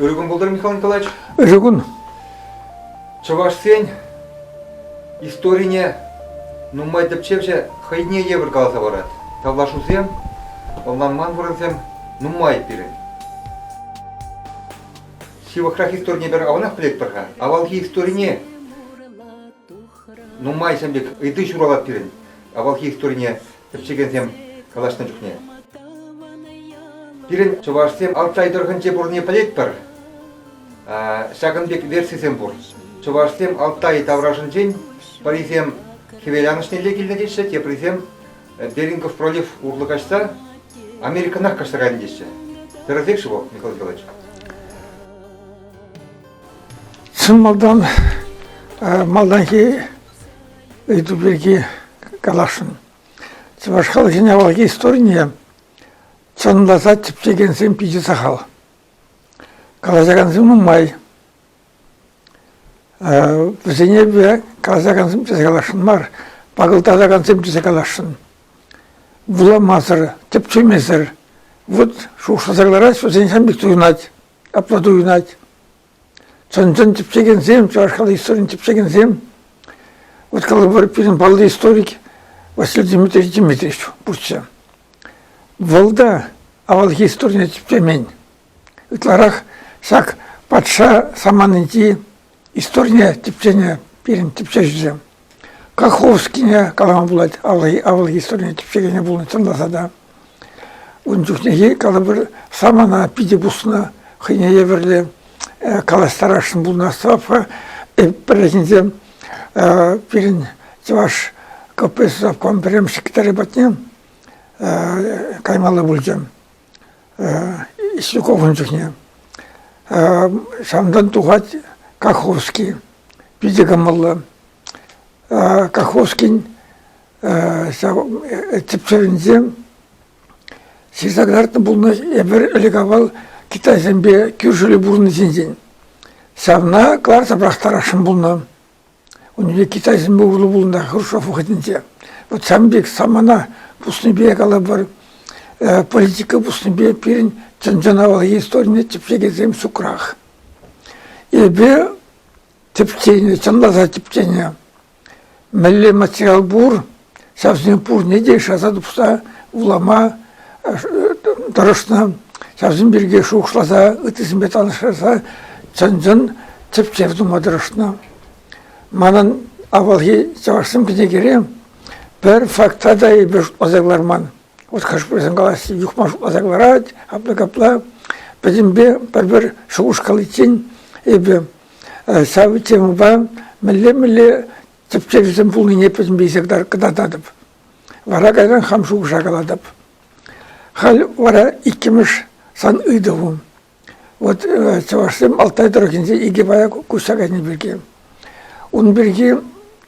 Ырӑ кун пултӑр, Михаил Николаевич. Ырӑ кун. Чӑвашсен историне нумай тӗпчевҫӗ хӑйне евӗр каласа парать. Тавлашусем, ӑнланман вырӑнсем нумай пирӗн. Ҫывӑхрах историне пӗр аванах пӗлетпӗр-ха. Авалхи историне нумайсем пек ыйти ҫуралать пирӗн. Авалхи историне тӗпчекенсем калаҫнӑ чухне. Пирӗн чӑвашсем Алтай тӑрӑхӗнче пурӑнни пӗлетпӗр. Ҫакӑн пек версисем пур. Чӑвашсем Алтай таврашӗнчен, пӗрисем хӗвеланӑҫнелле килнӗ теҫҫӗ, теприсем Берингов пролив урлӑ каҫса Америкӑнах каҫса кайнӑ теҫҫӗ. Тӗрӗсех-ши вӑл, Николай Николаевич? Чӑн малтан малтанхи Ыйту пирки каласшӑн. Чӑваш халӑхӗн авалхи историне чӑнласа тӗпчекенсем питӗ сахал. Калаҫакансем нумай. Вӗсене калаҫакансем тесе каласшӑн мар, пакӑлтатакансем тесе каласшӑн. Вуламасӑр, тӗпчемесӗр, вот шухӑшласа кӑларать, вӗсен ҫам пек туйӑнать, апла туйӑнать. Чӑн-чӑн тӗпчекенсем, чӑваш халӑх историйӗн тӗпчекенсем. Вот калывар пирӗн паллӑ историк Василий Дмитриевич Дмитриевич пурччӗ. Вӑл та авалхи историне тӗпчемен. Ытларах ҫак патша саманинчи историне тӗпченӗ пирӗн тӗпчевҫӗсем. Каховскине калама пулать, авал историне тӗпчекене пулнӑ, чӑнласа та. Ун чухнехи калӑпӑр самана питӗ пуснӑ, хӑйне евӗрлӗ калаҫтарасшӑн пулнӑ Остапа. Пӗррехинче пирӗн чӑваш КПСС обком пӗрремӗш секретарӗ патне каймалла пулчӗ. Исуковӑн чухне. Ҫавӑнтан тухать Каховский. Питӗ кӑмӑллӑ. Каховскин ҫав тӗпчеренсе ҫырса кӑтартнӑ пулнӑ эпир ӗлӗк-авал китайсемпе кӳршӗллӗ пурӑннӑ ҫинчен. Ҫавна кӑларса пӑрахтарасшӑн пулнӑ. Унипе китайсемпе урлӑ пулнӑ Хрущев вӑхӑтӗнче. Вот сан пек самана пуснипе калӑпӑр, политика пуснипе пирӗн чӑн-чӑн авалхи историне тӗпчекенсем ҫукрах. Эпӗ тӗпченӗ, чӑнласа тӗпченӗ. Мӗнле материал пур, ҫавсем пурне те шыраса тупса вулама тӑрӑшнӑ. Ҫавсем пирки шухӑшласа, ыттисемпе танлаштарса чӑн-чӑн тӗпчев тума тӑрӑшнӑ. Манӑн авалхи чӑвашсем кӗнекере пӗр факта та эпир шутласа кӑларман. Вот хӑш-пӗрсен калаҫ юхма шутласа кӑларать, апла-капла. Пӗтӗмпе пӗр-пӗр шухӑш каличчен эпир ҫав темӑпа мӗнле-мӗнле тӗпчевҫӗсем пулнине пӗтӗм пейсе кӑтартатӑп. Вара кайран хам шухӑша калатӑп. Халь вара иккӗмӗш сан ыйтӑву. Вот э, чӑвашсем Алтай тӑрӑхӗнче икӗ пая куҫса кайни пирки. Ун пирки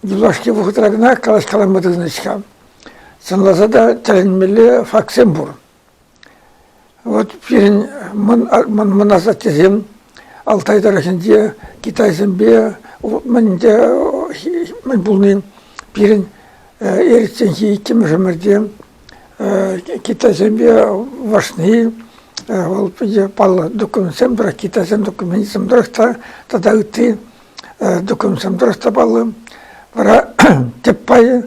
юлашки вӑхӑтра кӑна калаҫкаланма тытӑнӗҫ-ха. Чӑнласа та тӗлӗнмелле фактсем пур. Вот пирӗн мӑн асаттесем Алтай тӑрӑхӗнче китайсемпе мӗн пулни пирӗн эрӗчченхи иккӗмӗш ӗмӗрте китайсемпе вашни вӑл питӗ паллӑ документсем тӑрать китайсен документӗсем тӑрӑх та тата ытти документсем тӑрӑх та паллӑ вара тӗп пайӗ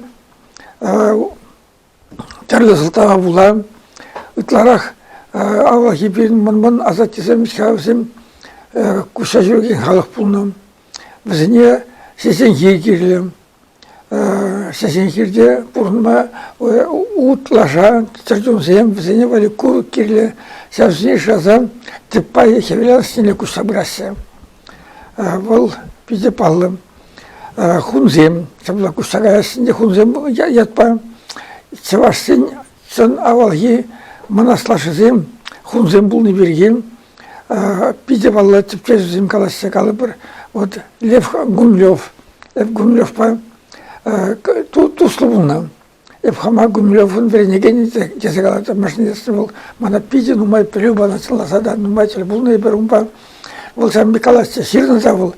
Тӗрлӗ сӑлтава пула ытларах авалхи пирӗн мӑн-мӑн асаттесем, ҫавсем куҫса ҫӳрекен халӑх пулнӑ. Вӗсене ҫеҫенхи кирлӗ. Ҫеҫенхирте пурӑнма утлаша чӗрчунсем, вӗсене валли курӑк кирлӗ. Ҫавсене шыраса тӗп пайӗ хӗвел алӑкне куҫса пыраҫҫӗ. Вӑл питӗ паллӑ хунсем. Ҫапла куҫтараяс ӗнтӗ хунсем ятпа. Чӑвашсен чӑн авалхи мӑнас лашисем хунсем пулни пирки питӗ паллӑ тӗпчевҫӗсем калаҫса калӑпӑр. Вот Лев Гумлев, Гумлевпа туслӑ пулнӑ. Эп хама гумилев вӗренекен тесе калатӑп. Машинистӑн вӑл мана питӗ нумай пӗлӳ панӑ, сӑнласа та нумай тӗл пулнӑ эпир унпа. Вӑл сан пек каласчӗ, ҫырнӑ вӑл.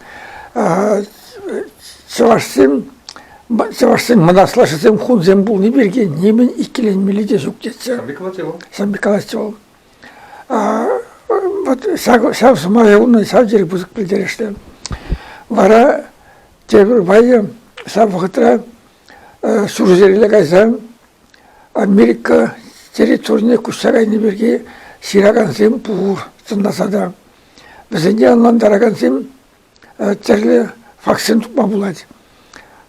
Чӑвашсем чӑвашсен мӑнаслашӗсем хунсем пулни пирки нимӗн иккӗленмелли те ҫук тетчӗ. Сан пек калатчӗ вӑл? Сан пек каласчӗ вӑл. Вот ҫав, ҫав сӑмая унӑн ҫав тери пысӑк пӗлтерӗшлӗ. Вара тепӗр пайӗ ҫав вӑхӑтра Ҫурҫӗрелле кайсан Америка территорине куҫса кайни пирки ҫыракансем пур сӑнласа та. Вӗсене ӑнлантаракансем тӗрлӗ фактсем тупма пулать.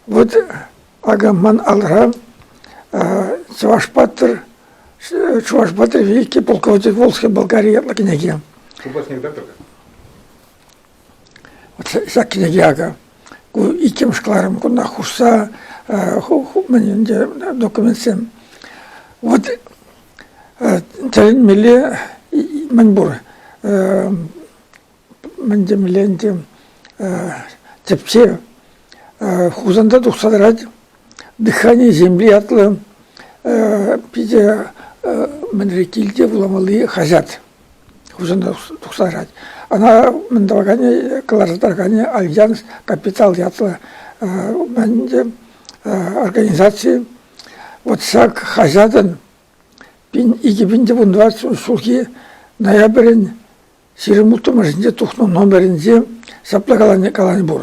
Вот ман алра Чӑваш патӑр Чӑваш патӑр великий полководец Волжский Болгари ятлӑ кӗнеке. Ку классник доктор Ҫак кӗнеке акӑ ку иккӗмӗш кӑларӑм кунта хушса мӗн ӗнтӗ документсем. Вот тӗлӗнмелле мӗн пур мӗн темелле ӗнтӗ тӗпчев Хусанта тухса тӑрать дыхание земли ятлӑ питӗ мӗнре килте вуламалли хаҫат. Хусанта тухса Ӑна мӗн тӑваканӗ, кӑларса тӑраканӗ Альянс Капитал ятлӑ мӗн организаци. Вот ҫак хаҫатӑн пин, икӗ пин тӗвун тӑватшӑн ҫулхи ноябрӗн ҫирӗм улттӑмӗшӗнче тухнӑ номерӗнче ҫапла калани пур.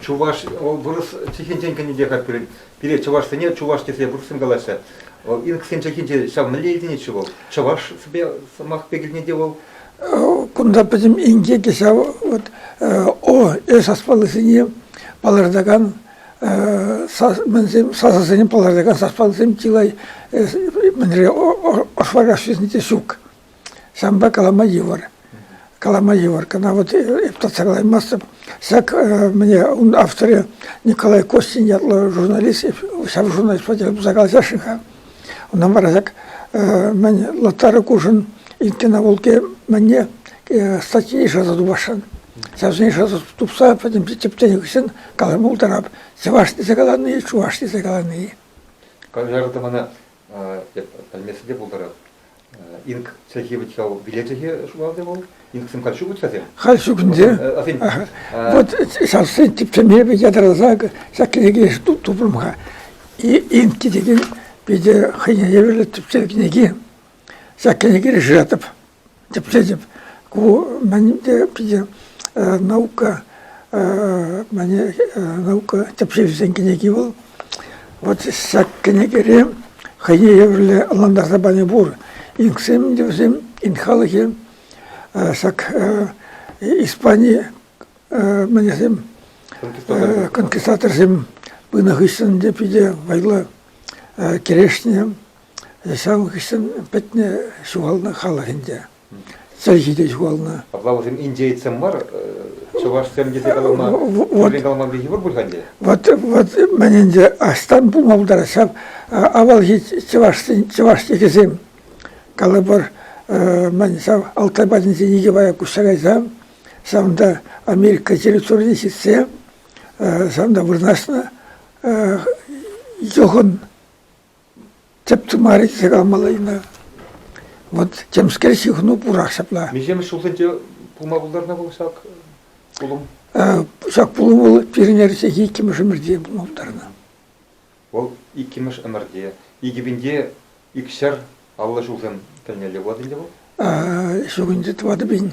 Чуваш, вырӑс чӗлхинчен кӗнӗ те-ха пирӗн. Пире чӑвашсене чуваш тесе вырӑссем калаҫҫӗ. Инксен чӗлхинче ҫав мӗнле илтӗнет-ши вӑл? Чӑвашсемпе сӑмах пек илтӗнет-и вӑл? Кунта пӗтӗм инкеке ҫав вот о, эш аспалысене палӑртакан мӗнсем сасӑсене палӑртакан саспалсем чылай мӗнре ӑшвараҫҫисене те ҫук. Ҫавӑнпа калама йывӑр. Калама йывӑр. Кӑна вот эп татсӑрлаймастӑп. Ҫак мне ун авторӗ Николай Костин ятлӑ журналист, ҫав журналист патне пырса калаҫасшӑн-ха. Ӑна вара ҫак мӗн Лотара Кушин иккӗн авулке мӗнне статья ишсе тупасшӑн. Ҫавсене ишсе тупса пӗтӗм тӗпченӗ хыҫҫӑн калама пултарап. Чӑваш тесе калани, чуваш тесе калани. Конвертована пӗлмессе те пултарать. Инк чӗлхи вӗт ҫав, виле чӗлхи шугалде вӑл. Инксем халь ҫук вӗт-ҫасем? Халь ҫук ӗнтӗ. Вот ҫав тӗпчеме ятарласа ҫак кӗнеке тупрӑм-ха. Инки текен питӗ хӑйне евӗрлӗ тӗпчев кӗнеки. Ҫак кӗнеке решетов. Тӗплетӗп. Ку мӗн те питӗ наука мане наука тӗпчевҫисен кӗнеки вӑл. Вот ҫак кӗнекере хӑйне евӗрлӗ ӑнлантарса пани пур. Ингсем ӗнтӗ вӗсем, ин халӑхӗ. Ҫак Испани мӗнесем конкистаторсем пынӑ хыҫҫӑн те питӗ вӑйлӑ кӗрешнӗ. Ҫав хыҫҫӑн пӗтнӗ ҫухалнӑ халӑх ӗнтӗ. Чӗлхи те ҫухалнӑ. Апла вӗсем индеецсем мар, чӑвашсем тесе калама, тӳррен каламалли йывӑр пуль-ха ӗнтӗ? Вот, вот мӗн ӗнтӗ аҫтан пулма пултарать ҫав. Авалхи чӑвашсен чӑваш текӗсем. Калӑпӑр, мӗн ҫав Алтай патӗнче Николай Куҫарайса, ҫавӑнта Америка территорине ҫитсе, ҫавӑнта вырнаҫнӑ Йӑхӑн тӗп тымарӗххе калмалла-и-ха. Вот темскер ҫыхӑну пурах ҫапла. Миҫемӗш ҫулсенче пулма пултарнӑ вӑл ҫак пулӑм? Ҫак пулӑм вӑл пирӗн эрнехи иккӗмӗш ӗмӗрте пулма пултарнӑ. Вӑл иккӗмӗш ӗмӗрте. Икӗ пинте икҫӗр аллӑ ҫулсем тӗлнелле пулать ӗнтӗ вӑл? Ҫук ӗнтӗ тӑватӑ пин.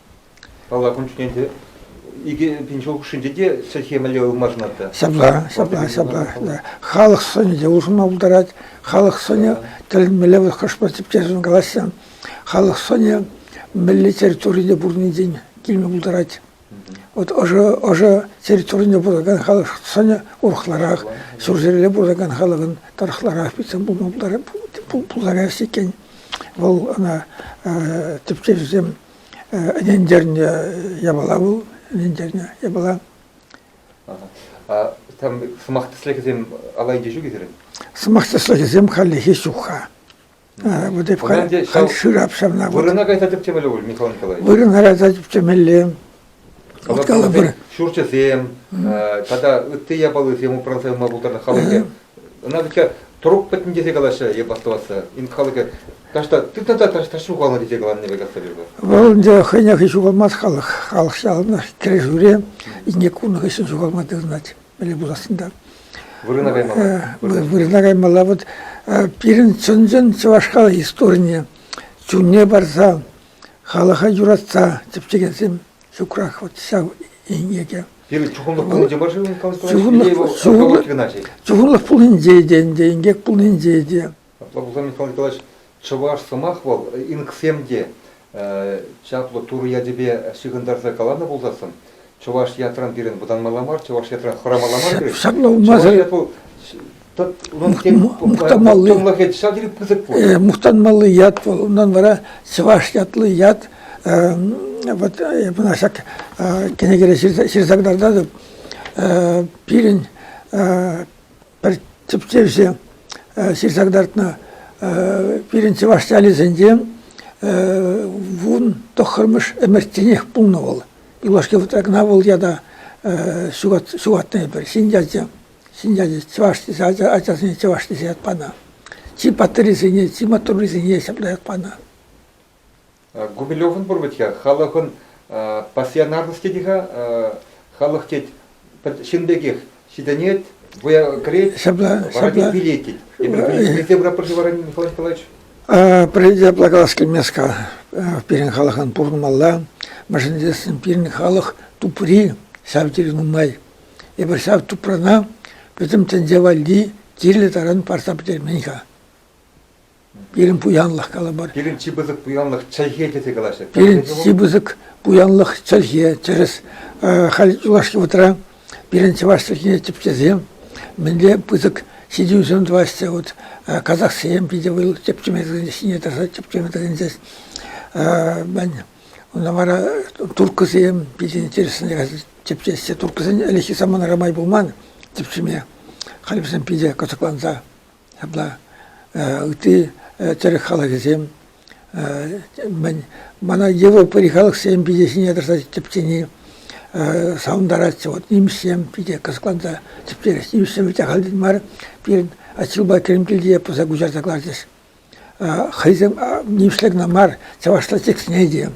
Паллах, ун чухне те икӗ пин ҫул хушшинче те сӗрхе мӗнле ылмашӑнать та. Ҫапла, ҫапла, ҫапла. Халӑх сӑнӗ те улшӑнма пултарать. Халӑх сӑнӗ тӗлӗнмелле вӑл хӑшпӗр тӗпчесшӗн калаҫса. Халӑх сӑнӗ мӗнле территорире пурӑннинчен килме пултарать. Вот ӑшӑ, ӑшӑ территорине пурӑнакан халӑх сӑнӗ урӑхларах, ҫурҫӗрле пурӑнакан халӑхӑн тӑрӑхларах питӗ пулма пултарас иккен. Вӑл ӑна тӗпчевҫӗсем ӗнентернӗ япала вӑл, ӗнентернӗ япала. Там сӑмах тӗслӗхӗсем алла илчӗ ҫук сирӗн? Сӑмах тӗслӗхӗсем хальлӗхе ҫук-ха. Вот эп халь шырап ҫавна. Вырӑна кайса тӗпчемелле пуль, Михаил Николаевич. Вырӑна кайса тӗпчемелле. Калӑпӑр, ҫурчӗсем тата ытти япалисем упранса юлма пултарнӑ халӑхӗ. Ӑна витсе трук пӗтнӗ тесе калаҫҫӗ йӑп астӑвасса. Ин халӑхӗ таҫта тытнӑ та таҫта ҫухалнӑ тесе каланине пек астӑвӑпӑр. Вӑл ӗнтӗ хӑйнех ҫухалмасть халӑх. Халӑх ҫавӑнпа кӗрешӳре инне кунӑ хыҫҫӑн ҫухалма тытӑнать. Мӗне пулассын та. Вырӑна каймалла. Вырӑна каймалла. Вот пирӗн чӑн-чӑн чӑваш халӑх историйне чунне парса халӑха юратса тӗпчекенсем ҫукрах вот ҫав инкеке. Пирӗн чухӑнлӑх пулнинче мар-ши, Николай Чухӑнлӑх чухӑнлӑх чухӑнлӑх пулнинче те ӗнтӗ, инкек пулнинче те. Апла пулсан, Михаил Николаевич, чӑваш сӑмах вӑл инксем те чаплӑ турӑ ячӗпе ҫыхӑнтарса каланӑ пулсассӑн, Чӑваш ятран пирӗн вӑтанмалла мар, чӑваш ятран хӑрамалла мар пирӗн. Ҫакна улмасӑр... Чӑваш ят мухтанмалли чӑнлӑхӗ ҫав тери пысӑк пуль. Э, мухтанмалли ят вӑл, унтан вара чӑваш ятлӑ ят э, вот э, мына ҫак кӗнекере ҫырса кӑтартатӑп. Пирӗн пӗр тӗпчевҫӗ ҫырса кӑтартнӑ пирӗн чӑваш ялӗсенче вун тӑххӑрмӗш ӗмӗртенех пулнӑ вӑл. Юлашки вӑхӑтра кӑна вӑл ята ҫухатнӑ эпир. Ҫын ячӗ, ҫын ячӗ чӑваш тесе, ачасене чӑваш тесе ят панӑ. Чи паттӑррисене, чи маттуррисене ҫапла ят панӑ. Губилевӑн пур вӗт-ха, халӑхӑн пассионарлӑх тет-и-ха, халӑх тет, ҫын пекех, Ҫитӗнет, вӑя кӗрет, ҫапла, воронин ҫапла. билетит. Пирте бра пырши воронин, Николай Николаевич? Пирӗнте плакалас килмест-ка. Пирӗн халӑхӑн пурӑнмалла. Мӗншӗн тесен пирӗн халӑх тупри ҫав тери нумай. Эпир ҫав тупрана пӗтӗм тӗнче валли кирлӗ таран парса пӗтермен-ха. Пирӗн пуянлӑх калӑпӑр. Пирӗн чи пысӑк пуянлӑх чӗлхе тесе калаҫҫӗ. Пирӗн чи пысӑк пуянлӑх чӗлхе. Тӗрӗс. Халь юлашки вутра пирӗн чӑваш чӗлхине тӗпчесе мӗнле пысӑк ҫитӗнӳсем тӑваҫҫӗ. Вот казахсем питӗ вӑл тӗпчеме тытӑнчӗҫ, ҫине тӑрса тӗпчеме тытӑнчӗҫ. Мен Унта вара турккӑсем питӗ интереслӗ тӗпчеҫҫӗ. Турккӑсен ӗлӗкхи саманара май пулман тӗпчеме. Халь вӗсем питӗ кӑсӑкланса ҫапла ытти тӗрӗк халӑхӗсем мӗн мана европӑри халӑхсем питӗ ҫине тӑрса тӗпчени савӑнтаратчӗ вот нимӗҫсем питӗ кӑсӑкланса тӗпчерӗҫ нимӗҫсем вӗт ахаль тен мар пирӗн Атҫулпа Кӗрӗмкилте пӑса куҫарса кӑларчӗҫ хӑйсем нимӗҫле кӑна мар чӑвашла текстне те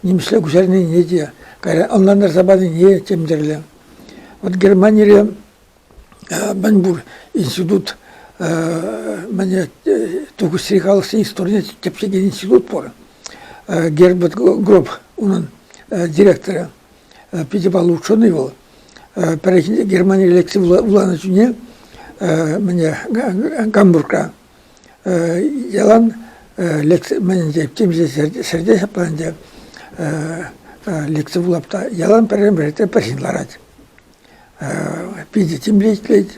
нимӗҫле куҫарнине те кайран ӑнлантарса панине тем тӗрлӗ вот Германире мӗнпур институт мӗне тухӑҫри халӑхсен историне тӗпчекен институт пур. Герберт Гроб унӑн директорӗ, питӗ паллӑ ученый вӑл. Пӗррехинче Германире лекци вуланӑ чухне мӗне Гамбургра ялан лекци мӗн те темиҫе ҫӗрте ҫаплан те лекци вулап та ялан пӗррен-пӗр пӗрчин ларать. Питӗ тимлӗ ӗҫлет.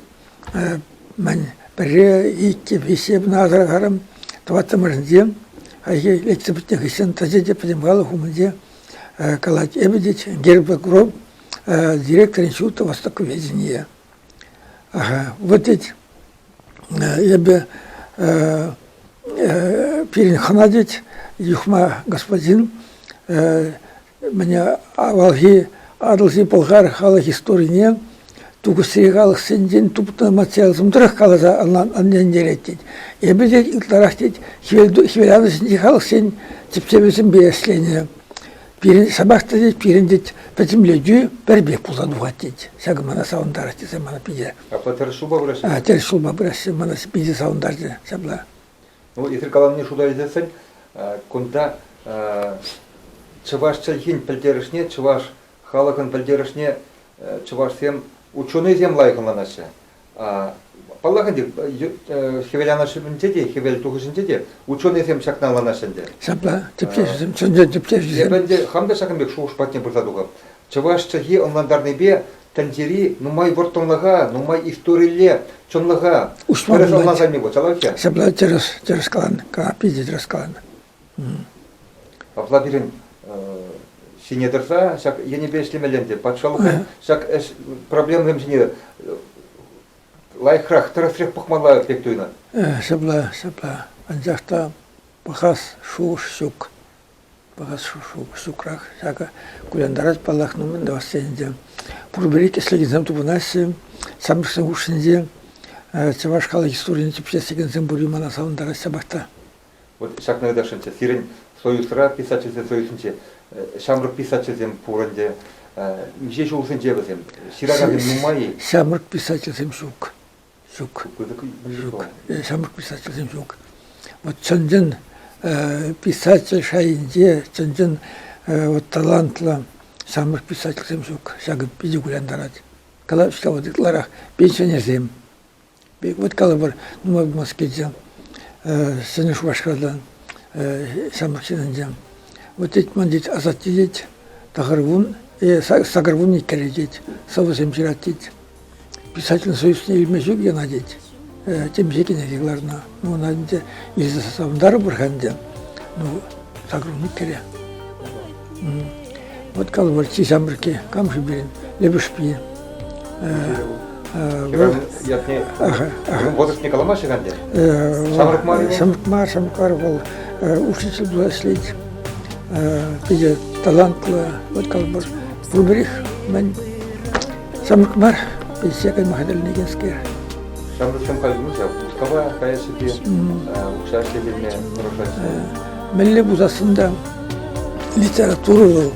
Мӗн пӗрре, иккӗ, виҫҫе пынӑ асӑрхарӑм. Тӑваттӑмӗшӗнче хайхи лексе пӗтнӗ хыҫҫӑн тӑчӗ те пӗтӗм халӑх умӗнче калать: «Эпӗ тет герб гроб директорӗн ҫуртӗ востоковедение». Вот тет эпӗ пирӗн хӑна тет, юхма господин Мӗне авалхи Атӑлҫи Пӑлхар халӑх историне тупӑшри халӑхсенчен тупнӑ материалсем тӑрӑх каласа ӗнентерет тет. Эпӗ те ытларах тет хӗвеланӑҫӗнчи халӑхсен тӗпчевӗсемпе ӗҫленӗ. Пирӗн ҫапах та тет, пирӗн тет пӗтӗмлетӳ пӗр пек пулса тухать тет. Ҫакӑ мана савӑнтарать тесе мана питӗ. Апла тӗрӗс ҫулпа пыраҫҫӗ? А, тӗрӗс ҫулпа пыраҫҫӗ. Мана питӗ савӑнтарчӗ ҫапла. Ну, эсир каланине шута илсессӗн кунта чӑваш чӗлхин пӗлтерӗшне, чӑваш халӑхӑн пӗлтерӗшне чӑвашсем, ученӑйсем лайӑх ӑнланаҫҫӗ. Паллах ӗнтӗ, хӗвел анашӗнче те, хӗвел тухӑҫӗнче те ученӑйсем ҫакна ӑнланаҫҫӗ ӗнтӗ. Ҫапла, тӗпчевҫӗсем, чӑн-чӑн тӗпчевҫӗсем. Эпӗ ӗнтӗ хам та ҫакӑн пек шухӑш патне пырса тухӑп. Чӑваш чӗлхи ӑнлантарнипе тӗнчери нумай вӑрттӑнлӑха, нумай историлле чӑнлӑха тӗрӗс ӑнлансанни пуль, ҫапла Ҫапла тӗрӗс, тӗрӗс каланӑ, питӗ тӗрӗс каланӑ. Апла пирӗн ҫине тӑрса ҫак енӗпе ӗҫлемелле ӗнтӗ. Патшалӑхӑн ҫак ӗҫ проблемӑсем ҫине лайӑхрах, тӗрӗсрех пӑхмалла пек туйӑнать. Ҫапла, ҫапла. Анчах та пӑхас шухӑш ҫук. пӑхас ҫукрах. Ҫакӑ кулянтарать, паллах, ну мӗн тӑвасси ӗнтӗ. Пурпӗри тӗслӗхӗсем тупӑнаҫҫӗ. Самбисен хушшинче чӑваш халӑх историне тӗпчес текенсем пурри мана савӑнтарать ҫапах та. Вот ҫакна ыташӑнчӗ. Сирӗн Союзра писательсен союзӗнче ҫамрӑк писательсем пур ӗнтӗ. Миҫе ҫулсенче вӗсем? Ҫыракансем нумай-и? Ҫамрӑк писательсем ҫук. ҫук. Ҫук. Самӑр писательсем ҫук. Вот чӑн-чӑн писатель шайӗнче чӑн-чӑн вот талантлӑ самӑр писательсем ҫук. Ҫакӑ питӗ кулянтарать. Калаҫҫӗ вот ытларах пенсионерсем. Вот калӑпӑр, нумай пулмасть килчӗ Ҫӗнӗ Шупашкартан ҫамрӑк ҫыннинче. Вот тет, ман тет, асатте тет, тахӑр вун, сакӑр вун иккӗре тет, сӑвӑсем ҫырать тет. Писатель союзне илме ҫук ӑна тет. Темиҫе кӗнеке кӑларнӑ. Ну, ӑна ӗнтӗ илсе савӑнтарӑпӑр-ха ӗнтӗ. Ну, загружник кӗре. Вот Колворчи ҫамрӑкки, Камши пирӗн, Лепешпи. Вотушне каламаҫҫӗ ӗнтӗ? Ҫамрӑк мар? Ҫамрӑк мар, ҫамрӑк мар вӑл учитель пулас лет. Питӗ талантлӑ вот Колбор. Пурпӗрех мӗн сӑмах мар пенсие кайма хатӗрленекенскер. Ҫамрӑксем халь ну ҫав Мускава каясси укҫа ӗҫлеме тӑрӑшаҫҫӗ. Мӗнле пулсассӑн та литература вӑл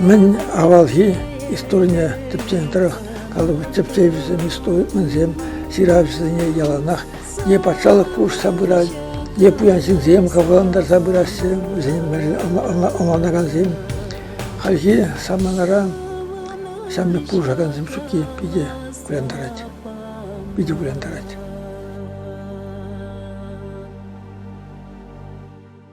мӗн авалхи историне тӗпченӗ тӑрӑх калӑпӑр тӗпчевҫӗсем, историксем, ҫыравҫӑсене яланах е патшалӑх пулӑшса пырать, е пуян ҫынсем капӑллантарса пыраҫҫӗ, вӗсен ӑнланакансем. Хальхи саманара ҫамрӑк пулӑшакансем ҫукки питӗ вырантарать. Питӗ вырантарать.